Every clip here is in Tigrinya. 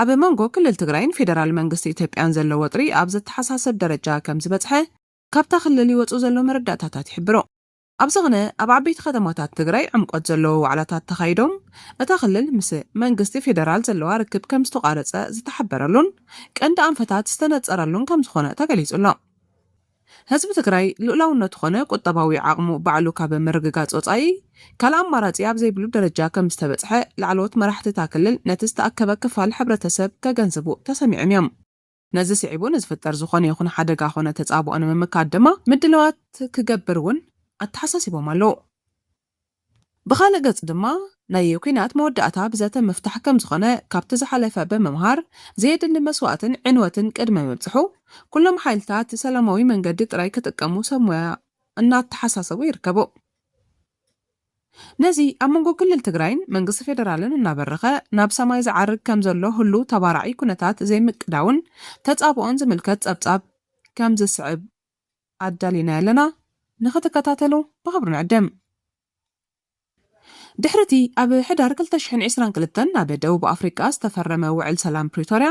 ኣብ መንጎ ክልል ትግራይን ፌደራል መንግስቲ ኢትዮጵያን ዘሎ ወጥሪ ኣብ ዘተሓሳስብ ደረጃ ከምዝበፅሐ ካብታ ክልል ይወፅኡ ዘለዉ መረዳእታታት ይሕብሩ። ኣብ ዝኽነ ኣብ ዓበይቲ ከተማታት ትግራይ ዕምቆት ዘለዎ ዋዕላታት ተኻይዶም እታ ክልል ምስ መንግስቲ ፌደራል ዘለዋ ርክብ ከምዝተቋረፀ ዝተሓበረሉን ቀንዲ ኣንፈታት ዝተነፀረሉን ከምዝኾነ ተገሊፁ ኣሎ። ህዝቢ ትግራይ ልኡላውነቱ ኮነ ቁጠባዊ ዓቕሙ ባዕሉ ካብ ምርግጋፅ ወፃኢ ካልእ ኣማራፂ ኣብ ዘይብሉ ደረጃ ከምዝተበፅሐ ላዕለዎት መራሕቲ እታ ክልል ነቲ ዝተኣከበ ክፋል ሕብረተሰብ ከገንዝቡ ተሰሚዖም እዮም። ነዚ ስዒቡ ንዝፍጠር ዝኾነ ይኹን ሓደጋ ኮነ ተፃብኦ ንምምካት ድማ ምድላዋት ክገብር እውን ኣተሓሳሲቦም ኣለው። ብኻልእ ገፅ ድማ ናይ ኲናት መወዳእታ ብዘተ ምፍታሕ ከምዝኾነ ካብቲ ዝሓለፈ ብምምሃር ዘየድሊ መስዋእትን ዕንወትን ቅድሚ ምብፅሑ ኩሎም ሓይልታት ሰላማዊ መንገዲ ጥራይ ክጥቀሙ ሰብ ሞያ እናተሓሳሰቡ ይርከቡ። ነዚ ኣብ መንጎ ክልል ትግራይን መንግስቲ ፌደራልን እናበረኸ ናብ ሰማይ ዝዓርግ ከምዘሎ ህሉው ተባራዒ ኩነታት ዘይምቅዳውን ተፃብኦን ዝምልከት ፀብፃብ ከምዝስዕብ ኣዳሊና ያለና ንክትከታተሉ ብክብሪ ንዕድም። ድሕሪ እቲ ኣብ ሕዳር ክልተ ሽሕን ዕስራን ክልተን ኣብ ደቡብ ኣፍሪቃ ዝተፈረመ ውዕል ሰላም ፕሪቶርያ፣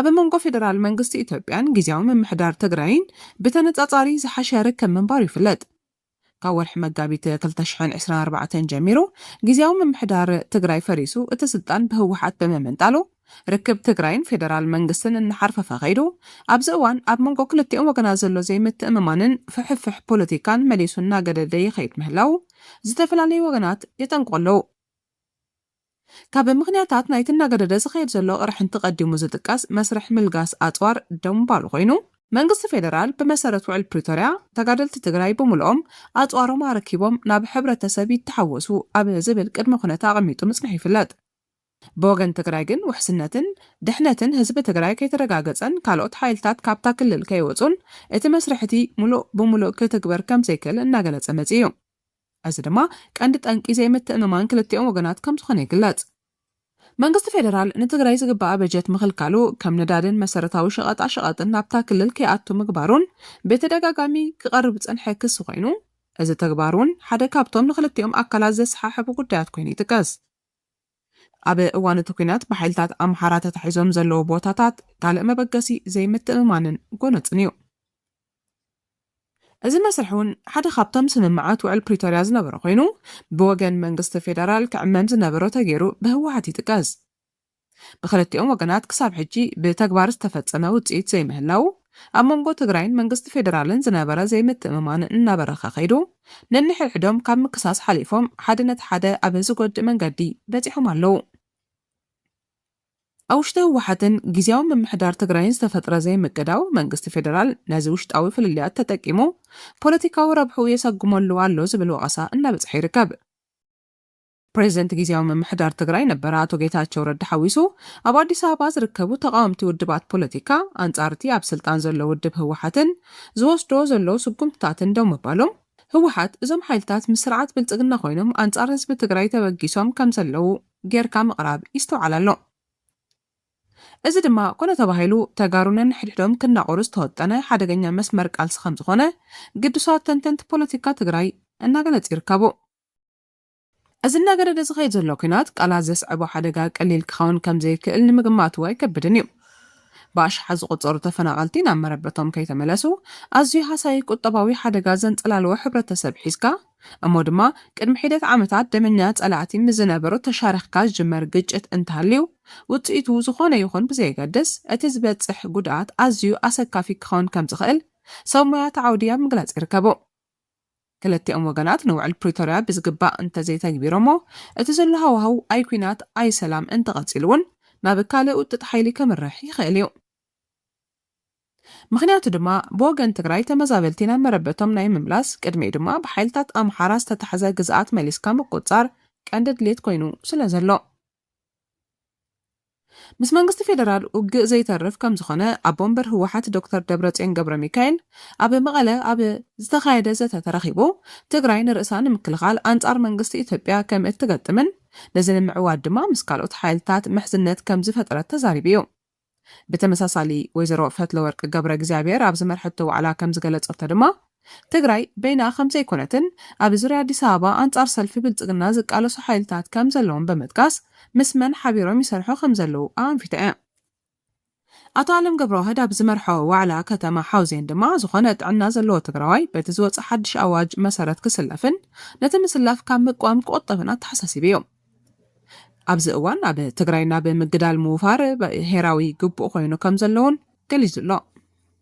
ኣብ መንጎ ፌደራል መንግስቲ ኢትዮጵያን ግዝያዊ ምምሕዳር ትግራይን ብተነጻጻሪ ዝሓሸ ርክብ ምንባሩ ይፍለጥ። ካብ ወርሒ መጋቢት ክልተ ሽሕን ዕስራን ኣርባዕተን ጀሚሩ ግዝያዊ ምምሕዳር ትግራይ ፈሪሱ እቲ ስልጣን ብህወሓት ብምምንጣሉ ርክብ ትግራይን ፌደራል መንግስትን እናሓርፈፈ ከይዱ። ኣብዚ እዋን ኣብ መንጎ ክልቲኦም ወገናት ዘሎ ዘይምትእምማንን ፍሕፍሕ ፖለቲካን መሊሱ እናገደደ ይኸይድ ምህላዉ ዝተፈላለዩ ወገናት የጠንቅቑ ኣለዉ። ካብ ምኽንያታት ናይቲ እናገደደ ዝኸይድ ዘሎ ቅርሕንቲ ቀዲሙ ዝጥቀስ መስርሕ ምልጋስ ኣፅዋር ደምባሉ ኮይኑ፣ መንግስቲ ፌደራል ብመሰረት ውዕል ፕሪቶርያ ተጋደልቲ ትግራይ ብሙሉኦም ኣፅዋሮም ኣረኪቦም ናብ ሕብረተሰብ ይተሓወሱ ኣብ ዝብል ቅድመ ኩነት ኣቐሚጡ ምፅንሑ ይፍለጥ። ብወገን ትግራይ ግን ውሕስነትን ድሕነትን ህዝቢ ትግራይ ከይተረጋገፀን ካልኦት ሓይልታት ካብታ ክልል ከይወፁን እቲ መስርሕ'ቲ ሙሉእ ብሙሉእ ክትግበር ከምዘይክእል እናገለፀ መፂኡ እዩ። እዚ ድማ ቀንዲ ጠንቂ ዘይምትእምማን ክልቲኦም ወገናት ከምዝኾነ ይግለፅ። መንግስቲ ፌደራል ንትግራይ ዝግበኣ በጀት ምኽልካሉ፣ ከም ነዳድን መሰረታዊ ሸቐጣሸቐጥን ናብታ ክልል ከይኣቱ ምግባሩን ብተደጋጋሚ ክቐርብ ዝፀንሐ ክሲ ኮይኑ፣ እዚ ተግባር እውን ሓደ ካብቶም ንኽልቲኦም ኣካላት ዘሰሓሕቡ ጉዳያት ኮይኑ ይጥቀስ። ኣብ እዋን እቲ ኲናት ብሓይልታት ኣምሓራ ተታሒዞም ዘለዉ ቦታታት ካልእ መበገሲ ዘይምትእምማንን ጎነፅን እዩ። እዚ መስርሕ እውን ሓደ ካብቶም ስምምዓት ውዕል ፕሪቶርያ ዝነበረ ኮይኑ ብወገን መንግስቲ ፌደራል ክዕመም ዝነበሮ ተገይሩ ብህወሓት ይጥቀስ። ብክልቲኦም ወገናት ክሳብ ሕጂ ብተግባር ዝተፈፀመ ውፅኢት ዘይምህላው ኣብ መንጎ ትግራይን መንግስቲ ፌደራልን ዝነበረ ዘይምትእምማን እናበረኸ ከይዱ ነንሕድሕዶም ካብ ምክሳስ ሓሊፎም ሓደ ነቲ ሓደ ኣብ ዝጎድእ መንገዲ በፂሖም ኣለዉ። ኣብ ውሽጢ ህወሓትን ግዝያዊ ምምሕዳር ትግራይን ዝተፈጥረ ዘይምቅዳው መንግስቲ ፌደራል ነዚ ውሽጣዊ ፍልልያት ተጠቂሙ ፖለቲካዊ ረብሕኡ የሰጉመሉ ኣሎ ዝብል ወቐሳ እናበፅሐ ይርከብ። ፕሬዚደንት ግዝያዊ ምምሕዳር ትግራይ ነበር ኣቶ ጌታቸው ረዳ ሓዊሱ ኣብ ኣዲስ ኣበባ ዝርከቡ ተቓወምቲ ውድባት ፖለቲካ ኣንፃር እቲ ኣብ ስልጣን ዘሎ ውድብ ህወሓትን ዝወስዶ ዘሎ ስጉምትታትን ደው ምባሎም ህወሓት እዞም ሓይልታት ምስ ስርዓት ብልፅግና ኮይኖም ኣንፃር ህዝቢ ትግራይ ተበጊሶም ከምዘለዉ ጌርካ ምቕራብ ይስተውዓል ኣሎ። እዚ ድማ ኮነ ተባሂሉ ተጋሩ ነንሕድሕዶም ክናቖሩ ዝተወጠነ ሓደገኛ መስመር ቃልሲ ከምዝኾነ ግዱሳት ተንተንቲ ፖለቲካ ትግራይ እናገለፁ ይርከቡ። እዚ እናገደደ ዝኸይድ ዘሎ ኲናት ቃላት ዘስዕቦ ሓደጋ ቀሊል ክኸውን ከምዘይክእል ንምግማት እው ኣይከብድን እዩ። ብኣሽሓት ዝቑፀሩ ተፈናቐልቲ ናብ መረበቶም ከይተመለሱ ኣዝዩ ሃሳዪ ቁጠባዊ ሓደጋ ዘንፀላለወ ሕብረተሰብ ሒዝካ፣ እሞ ድማ ቅድሚ ሒደት ዓመታት ደመኛ ጸላእቲ ምስ ዝነበሩ ተሻሪኽካ ዝጅመር ግጭት እንተሃልዩ፣ ውጽኢቱ ዝኾነ ይኹን ብዘየገድስ፣ እቲ ዝበጽሕ ጉድኣት ኣዝዩ ኣሰካፊ ክኸውን ከም ዝኽእል ሰብ ሞያ'ቲ ዓውዲ ኣብ ምግላጽ ይርከቡ። ክልቲኦም ወገናት ንውዕል ፕሪቶርያ ብዝግባእ እንተዘይተግቢሮሞ፣ እቲ ዘሎ ሃዋህው ኣይ ኲናት ኣይ ሰላም እንተቐጺሉ'ውን ናብ ካልእ ውጥጥ ሓይሊ ከምርሕ ይኽእል እዩ። ምኽንያቱ ድማ ብወገን ትግራይ ተመዛበልቲ ናብ መረበቶም ናይ ምምላስ ቅድሚኡ ድማ ብሓይልታት ኣምሓራ ዝተታሕዘ ግዝኣት መሊስካ ምቁፅፃር ቀንዲ ድሌት ኮይኑ ስለዘሎ ምስ መንግስቲ ፌደራል ውግእ ዘይተርፍ ከምዝኾነ ኣቦ ወንበር ህወሓት ዶክተር ደብረፅዮን ገብረሚካኤል ኣብ መቐለ ኣብ ዝተኻየደ ዘተ ተረኺቡ ትግራይ ንርእሳ ንምክልኻል ኣንፃር መንግስቲ ኢትዮጵያ ከምእትገጥምን ነዚ ንምዕዋት ድማ ምስ ካልኦት ሓይልታት ምሕዝነት ከምዝፈጠረት ተዛሪቡ እዩ። ብተመሳሳሊ ወይዘሮ ፈትለወርቅ ገብረእግዚኣብሄር ኣብ ዝመርሐቶ ዋዕላ ከም ዝገለፀቶ ድማ ትግራይ በይና ከም ዘይኮነትን ኣብ ዙርያ ኣዲስ ኣበባ ኣንፃር ሰልፊ ብልፅግና ዝቃለሱ ሓይልታት ከም ዘለዉን ብምጥቃስ ምስ መን ሓቢሮም ይሰርሑ ከም ዘለዉ ኣኣንፊታ እያ። ኣቶ ኣለም ገብረዋህድ ኣብ ዝመርሖ ዋዕላ ከተማ ሓውዜን ድማ ዝኾነ ጥዕና ዘለዎ ትግራዋይ በቲ ዝወፀ ሓድሽ ኣዋጅ መሰረት ክስለፍን ነቲ ምስላፍ ካብ ምቅዋም ክቑጠብን ኣተሓሳሲቡ እዩ። ኣብዚ እዋን ኣብ ትግራይ ናብ ምግዳል ምውፋር ብሄራዊ ግቡእ ኮይኑ ከም ዘለውን ገሊጹ ኣሎ።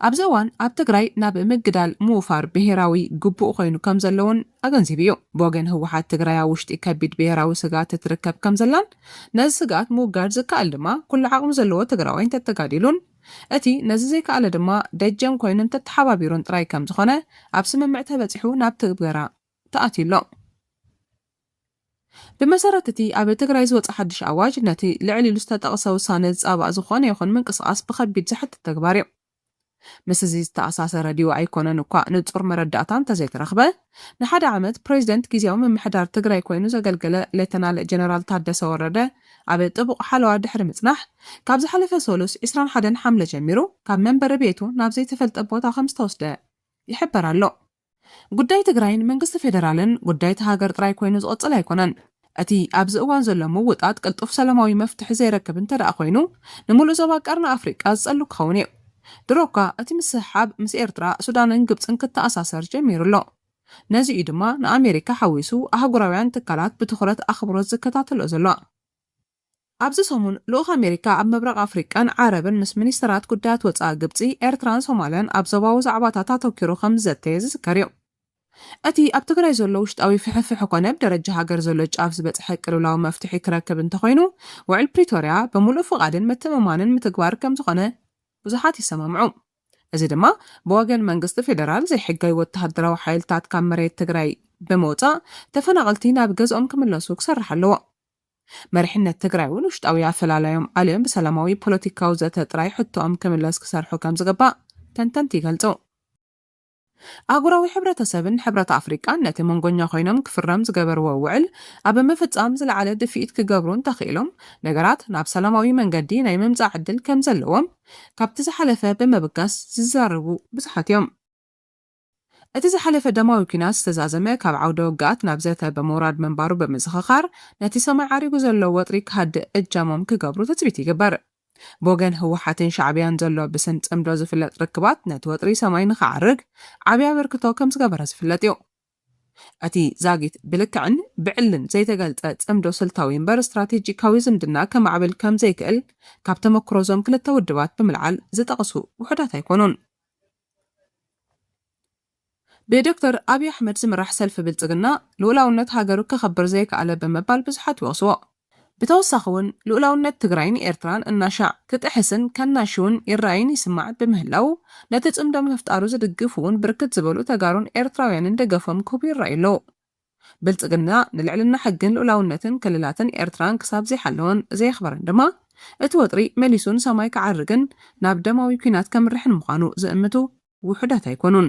ኣብዚ እዋን ኣብ ትግራይ ናብ ምግዳል ምውፋር ብሄራዊ ግቡእ ኮይኑ ከም ዘለውን ኣገንዚቡ እዩ። ብወገን ህወሓት ትግራይ ኣብ ውሽጢ ከቢድ ብሄራዊ ስግኣት እትርከብ ከም ዘላን ነዚ ስግኣት ምውጋድ ዝከኣል ድማ ኩሉ ዓቕሚ ዘለዎ ትግራዋይ እንተተጋዲሉን እቲ ነዚ ዘይከኣለ ድማ ደጀን ኮይኑ እንተተሓባቢሩን ጥራይ ከም ዝኾነ ኣብ ስምምዕ ተበጺሑ ናብ ትግበራ ተኣትዩ ኣሎ። ብመሰረት እቲ ኣብ ትግራይ ዝወፀ ሓዱሽ ኣዋጅ ነቲ ልዕል ኢሉ ዝተጠቕሰ ውሳነ ዝፃባእ ዝኾነ ይኹን ምንቅስቓስ ብኸቢድ ዘሕትት ተግባር እዩ። ምስ እዚ ዝተኣሳሰረ ድዩ ኣይኮነን እኳ ንፁር መረዳእታ እንተዘይተረኽበ ንሓደ ዓመት ፕሬዚደንት ጊዚያዊ ምምሕዳር ትግራይ ኮይኑ ዘገልገለ ሌተናል ጀነራል ታደሰ ወረደ ኣብ ጥቡቕ ሓለዋ ድሕሪ ምፅናሕ ካብ ዝሓለፈ ሰሉስ ዕስራን ሓደን ሓምለ ጀሚሩ ካብ መንበሪ ቤቱ ናብ ዘይተፈልጠ ቦታ ከምዝተወስደ ይሕበር ኣሎ። ጉዳይ ትግራይ ንመንግስቲ ፌደራልን ጉዳይ እታ ሃገር ጥራይ ኮይኑ ዝቕጽል ኣይኮነን። እቲ ኣብዚ እዋን ዘሎ ምውጣጥ ቅልጡፍ ሰላማዊ መፍትሒ ዘይረክብ እንተደኣ ኮይኑ ንምሉእ ዞባ ቀርኒ ኣፍሪቃ ዝጸሉ ክኸውን እዩ። ድሮ'ኳ እቲ ምስሕሓብ ምስ ኤርትራ፣ ሱዳንን ግብጽን ክተኣሳሰር ጀሚሩ ኣሎ። ነዚ እዩ ድማ ንኣሜሪካ ሓዊሱ ኣህጉራውያን ትካላት ብትኹረት ኣኽብሮት ዝከታተልኦ ዘሎ። ኣብዚ ሰሙን ልኡኽ ኣሜሪካ ኣብ ምብራቕ ኣፍሪቃን ዓረብን ምስ ሚኒስተራት ጉዳያት ወጻኢ ግብጺ፣ ኤርትራን ሶማልያን ኣብ ዞባዊ ዛዕባታት ኣተኲሩ ከም ዝዘተየ ዝዝከር'ዩ። እቲ ኣብ ትግራይ ዘሎ ውሽጣዊ ፍሕፍሕ ኮነ ብ ደረጃ ሃገር ዘሎ ጫፍ ዝበጽሐ ቅልውላው መፍትሒ ክረክብ እንተኾይኑ ውዕል ፕሪቶርያ ብምሉእ ፍቓድን ምትእምማንን ምትግባር ከም ዝኾነ ብዙሓት ይሰማምዑ። እዚ ድማ ብወገን መንግስቲ ፌደራል ዘይሕጋዊ ወተሃደራዊ ሓይልታት ካብ መሬት ትግራይ ብምውጻእ ተፈናቐልቲ ናብ ገዝኦም ክምለሱ ክሰርሕ ኣለዎ። መሪሕነት ትግራይ እውን ውሽጣዊ ኣፈላላዮም ኣልዮም ብሰላማዊ ፖለቲካዊ ዘተ ጥራይ ሕቶኦም ክምለስ ክሰርሑ ከምዝግባእ ተንተንቲ ይገልጹ። ኣህጉራዊ ሕብረተሰብን ሕብረት ኣፍሪቃን ነቲ መንጎኛ ኮይኖም ክፍረም ዝገበርዎ ውዕል ኣብ ምፍጻም ዝለዓለ ድፍኢት ክገብሩ እንተኽኢሎም ነገራት ናብ ሰላማዊ መንገዲ ናይ ምምጻእ ዕድል ከምዘለዎም ካብቲ ዝሓለፈ ብምብጋስ ዝዛረቡ ብዙሓት እዮም። እቲ ዝሓለፈ ደማዊ ኲናት ዝተዛዘመ ካብ ዓውደ ውግኣት ናብ ዘተ ብምውራድ ምንባሩ ብምዝኽኻር፣ ነቲ ሰማይ ዓሪጉ ዘሎ ወጥሪ ክሃድእ እጃሞም ክገብሩ ትጽቢት ይግበር። ብወገን ህወሓትን ሻዕብያን ዘሎ ብስም ጽምዶ ዝፍለጥ ርክባት ነቲ ወጥሪ ሰማይ ንኽዓርግ ዓቢ ኣበርክቶ ከም ዝገበረ ዝፍለጥ'ዩ። እቲ ዛጊት ብልክዕን ብዕልን ዘይተገልጸ ጽምዶ ስልታዊ እምበር ስትራቴጂካዊ ዝምድና ከማዕብል ከም ዘይክእል ካብ ተመኩሮ'ዞም ክልተ ውድባት ብምልዓል ዝጠቕሱ ውሑዳት ኣይኮኑን። ብዶክተር ኣብይ ኣሕመድ ዝምራሕ ሰልፊ ብልፅግና ልኡላውነት ሃገሩ ከኽብር ዘይከኣለ ብምባል ብዙሓት ይወቕስዎ። ብተወሳኺ ውን ልኡላውነት ትግራይን ኤርትራን እናሻዕ ክጥሕስን ከናሽውን ይረኣይን ይስማዕን ብምህላዉ ነቲ ፅምዶ ምፍጣሩ ዝድግፉ ውን ብርክት ዝበሉ ተጋሩን ኤርትራውያንን ደገፎም ክህቡ ይረኣዩ ኣለዉ። ብልጽግና ንልዕልና ሕግን ልኡላውነትን ክልላትን ኤርትራን ክሳብ ዘይሓለወን ዘየኽበረን ድማ፣ እቲ ወጥሪ መሊሱ ንሰማይ ክዓርግን ናብ ደማዊ ኲናት ከምርሕን ምዃኑ ዝእምቱ ውሑዳት ኣይኮኑን።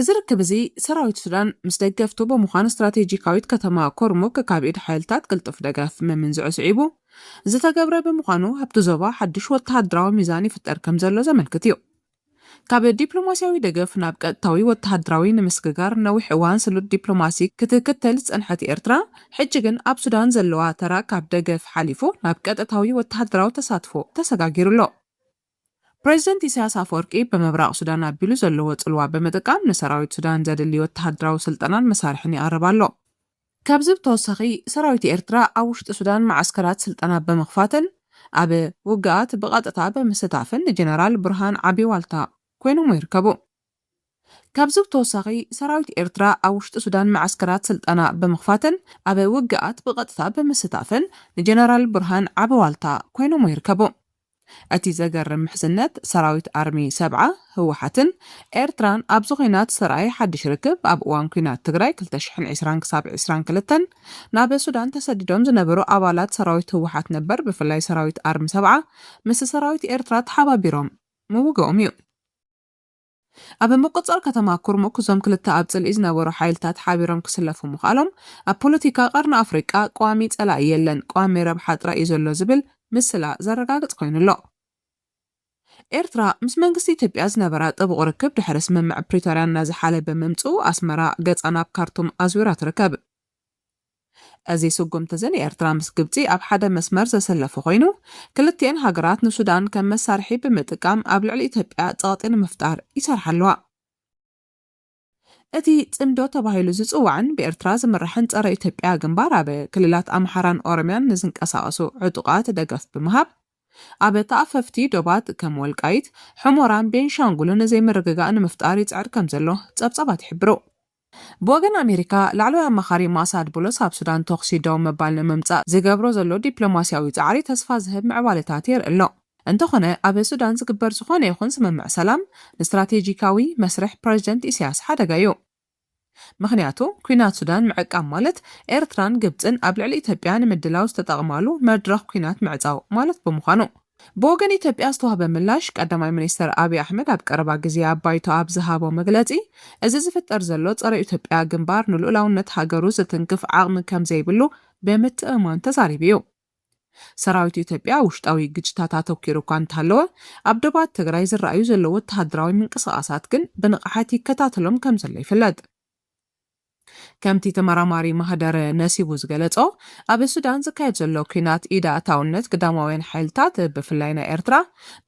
እዚ ርክብ እዚ ሰራዊት ሱዳን ምስ ደገፍቱ ብምዃን ስትራቴጂካዊት ከተማ ኮርሙክ ካብ ኢድ ሓይልታት ቅልጡፍ ደገፍ ምምንዝዑ ስዒቡ ዝተገብረ ብምዃኑ ኣብቲ ዞባ ሓድሽ ወተሃደራዊ ሚዛን ይፍጠር ከም ዘሎ ዘመልክት እዩ። ካብ ዲፕሎማስያዊ ደገፍ ናብ ቀጥታዊ ወተሃደራዊ ንምስግጋር ነዊሕ እዋን ስሉጥ ዲፕሎማሲ ክትክተል ዝጸንሐት ኤርትራ፣ ሕጂ ግን ኣብ ሱዳን ዘለዋ ተራ ካብ ደገፍ ሓሊፉ ናብ ቀጥታዊ ወተሃደራዊ ተሳትፎ ተሰጋጊሩ ኣሎ። ፕረዚደንት ኢሳያስ ኣፈወርቂ ብምብራቕ ሱዳን ኣቢሉ ዘለዎ ጽልዋ ብምጥቃም ንሰራዊት ሱዳን ዘድሊ ወተሃደራዊ ስልጠናን መሳርሕን ይቐርብ ኣሎ። ካብዚ ብተወሳኺ ሰራዊት ኤርትራ ኣብ ውሽጢ ሱዳን መዓስከራት ስልጠና ብምኽፋትን ኣብ ውግኣት ብቐጥታ ብምስታፍን ንጀነራል ቡርሃን ዓቢ ዋልታ ኮይኖሞ ይርከቡ። ካብዚ ብተወሳኺ ሰራዊት ኤርትራ ኣብ ውሽጢ ሱዳን መዓስከራት ስልጠና ብምኽፋትን ኣብ ውግኣት ብቐጥታ ብምስታፍን ንጀነራል ቡርሃን ዓቢ ዋልታ ኮይኖሞ ይርከቡ። እቲ ዘገርም ምሕዝነት ሰራዊት ኣርሚ ሰብዓ፣ ህወሓትን ኤርትራን ኣብዚ ኲናት ዝተርኣየ ሓድሽ ርክብ ኣብ እዋን ኲናት ትግራይ ክልተ ሽሕን ዕስራን ክሳብ ዕስራን ክልተን ናብ ሱዳን ተሰዲዶም ዝነበሩ ኣባላት ሰራዊት ህወሓት ነበር ብፍላይ ሰራዊት ኣርሚ ሰብዓ ምስ ሰራዊት ኤርትራ ተሓባቢሮም ምውግኦም እዩ። ኣብ ምቁጽጻር ከተማ ኩርሙክ እዞም ክልተ ኣብ ጽልኢ ዝነበሩ ሓይልታት ሓቢሮም ክስለፉ ምኽኣሎም፣ ኣብ ፖለቲካ ቀርኒ ኣፍሪቃ ቀዋሚ ጸላኢ የለን ቀዋሚ ረብሓ ጥራይ እዩ ዘሎ ዝብል ምስላ ዘረጋግጽ ኮይኑ ኣሎ። ኤርትራ ምስ መንግስቲ ኢትዮጵያ ዝነበራ ጥቡቕ ርክብ ድሕሪ ስምምዕ ፕሪቶርያ እናዘሓለ ብምምጽኡ ኣስመራ ገጻ ናብ ካርቱም ኣዝዊራ ትርከብ። እዚ ስጉምቲ'ዚ ንኤርትራ ምስ ግብጺ ኣብ ሓደ መስመር ዘሰለፈ ኮይኑ፣ ክልቲኤን ሃገራት ንሱዳን ከም መሳርሒ ብምጥቃም ኣብ ልዕሊ ኢትዮጵያ ጸቕጢ ንምፍጣር ይሰርሓ ኣለዋ። እቲ ጽምዶ ተባሂሉ ዝጽዋዕን ብኤርትራ ዝምራሕን ጸረ ኢትዮጵያ ግንባር ኣብ ክልላት ኣምሓራን ኦሮምያን ንዝንቀሳቐሱ ዕጡቓት ደገፍ ብምሃብ ኣብ ተኣፈፍቲ ዶባት ከም ወልቃይት፣ ሑሞራን ቤንሻንጉልን ዘይምርግጋእ ንምፍጣር ይጽዕር ከምዘሎ ጸብጻባት ይሕብሩ። ብወገን ኣሜሪካ፣ ላዕለዋይ ኣማኻሪ ማእሳድ ቡሎስ ኣብ ሱዳን ተኹሲ ደው ምባል ንምምጻእ ዝገብሮ ዘሎ ዲፕሎማስያዊ ጻዕሪ ተስፋ ዝህብ ምዕባለታት የርኢ ኣሎ። እንተኾነ ኣብ ሱዳን ዝግበር ዝኾነ ይኹን ስምምዕ ሰላም ንስትራቴጂካዊ መስርሕ ፕረዚደንት ኢሳያስ ሓደጋ እዩ። ምኽንያቱ ኲናት ሱዳን ምዕቃብ ማለት ኤርትራን ግብጽን ኣብ ልዕሊ ኢትዮጵያ ንምድላው ዝተጠቕማሉ መድረኽ ኲናት ምዕጻው ማለት ብምዃኑ። ብወገን ኢትዮጵያ ዝተዋህበ ምላሽ፣ ቀዳማይ ሚኒስተር ኣብይ ኣሕመድ ኣብ ቀረባ ግዜ ኣብ ባይቶ ኣብ ዝሃቦ መግለጺ፣ እዚ ዝፍጠር ዘሎ ጸረ-ኢትዮጵያ ግንባር ንልኡላውነት ሃገሩ ዝትንክፍ ዓቕሚ ከምዘይብሉ ብምትእምማን ተዛሪቡ እዩ። ሰራዊት ኢትዮጵያ ኣብ ውሽጣዊ ግጭታት ኣተኲሩ እኳ እንተሃለወ፣ ኣብ ዶባት ትግራይ ዝረኣዩ ዘለዉ ወተሃደራዊ ምንቅስቓሳት ግን ብንቕሓት ይከታተሎም ከምዘሎ ይፍለጥ። ከምቲ ተመራማሪ ማህደረ ነሲቡ ዝገለጾ፣ ኣብ ሱዳን ዝካየድ ዘሎ ኲናት ኢድ ኣእታውነት ግዳማውያን ሓይልታት፣ ብፍላይ ናይ ኤርትራ፣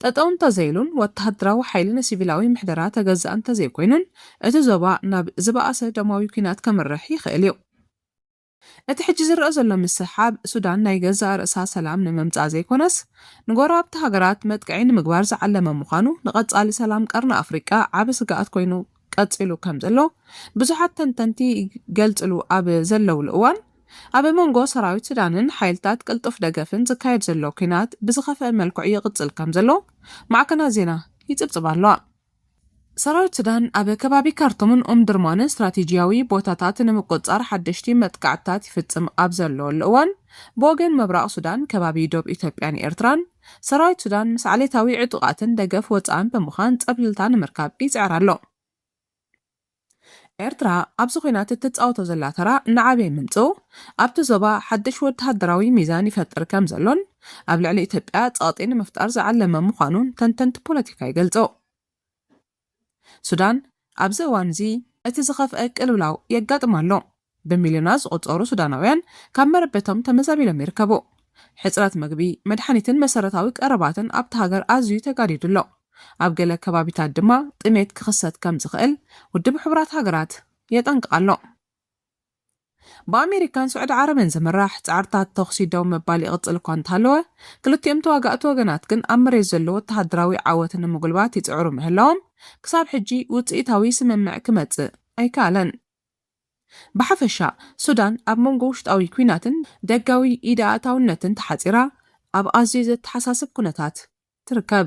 ጠጠው እንተዘይሉን ወተሃደራዊ ሓይሊ ንሲቪላዊ ምሕደራ ተገዛኢ እንተዘይኮይኑን እቲ ዞባ ናብ ዝበኣሰ ደማዊ ኲናት ከምርሕ ይኽእል እዩ። እቲ ሕጂ ዝረኣ ዘሎ ምስሕሓብ ሱዳን ናይ ገዛእ ርእሳ ሰላም ንምምጻእ ዘይኮነስ ንጎረባብቲ ሃገራት መጥቅዒ ንምግባር ዝዓለመ ምዃኑ ንቐጻሊ ሰላም ቀርኒ ኣፍሪቃ ዓቢ ስግኣት ኮይኑ ቀጺሉ ከምዘሎ ብዙሓት ተንተንቲ ይገልጽሉ ኣብ ዘለውሉ እዋን፣ ኣብ መንጎ ሰራዊት ሱዳንን ሓይልታት ቅልጡፍ ደገፍን ዝካየድ ዘሎ ኲናት ብዝኸፍኣ መልክዑ ይቕጽል ከምዘሎ ማዕከናት ዜና ይጽብጽባ ኣለዋ። ሰራዊት ሱዳን ኣብ ከባቢ ካርቱምን ኡምዱርማንን ስትራቴጂያዊ ቦታታት ንምቁጽጻር ሓደሽቲ መጥቃዕትታት ይፍጽም ኣብ ዘለወሉ እዋን፣ ብወገን ምብራቕ ሱዳን ከባቢ ዶብ ኢትዮጵያን ኤርትራን፣ ሰራዊት ሱዳን ምስ ዓሌታዊ ዕጡቓትን ደገፍ ወጻእን ብምዃን ጸብልልታ ንምርካብ ይጽዕር ኣሎ። ኤርትራ ኣብዚ ኲናት እትጻወቶ ዘላ ተራ እናዓበየ ምምጽኡ፣ ኣብቲ ዞባ ሓድሽ ወተሃደራዊ ሚዛን ይፈጥር ከም ዘሎን ኣብ ልዕሊ ኢትዮጵያ ጸቕጢ ንምፍጣር ዝዓለመ ምዃኑን ተንተንቲ ፖለቲካ ይገልጹ። ሱዳን ኣብዚ እዋን'ዚ እቲ ዝኸፍኣ ቅልውላው የጋጥማ ኣሎ። ብሚልዮናት ዝቑጸሩ ሱዳናውያን ካብ መረበቶም ተመዛቢሎም ይርከቡ። ሕጽረት መግቢ፣ መድሓኒትን መሰረታዊ ቀረባትን ኣብታ ሃገር ኣዝዩ ተጋዲዱ ኣሎ። ኣብ ገለ ከባቢታት ድማ ጥሜት ክኽሰት ከምዝኽእል ውድብ ሕቡራት ሃገራት የጠንቅቕ ኣሎ። ብኣሜሪካን ስዑዲ ዓረብን ዝምራሕ ጻዕርታት ተዅሲ ደው ምባል ይቕጽል እኳ እንተሃለወ፣ ክልቲኦም ተዋጋእቲ ወገናት ግን ኣብ መሬት ዘሎ ወተሃደራዊ ዓወት ንምጕልባት ይጽዕሩ ምህላዎም ክሳብ ሕጂ ውጽኢታዊ ስምምዕ ክመጽእ ኣይከኣለን። ብሓፈሻ፣ ሱዳን ኣብ መንጎ ውሽጣዊ ኲናትን ደጋዊ ኢድ ኣእታውነትን ተሓጺራ ኣብ ኣዝዩ ዘተሓሳስብ ኵነታት ትርከብ።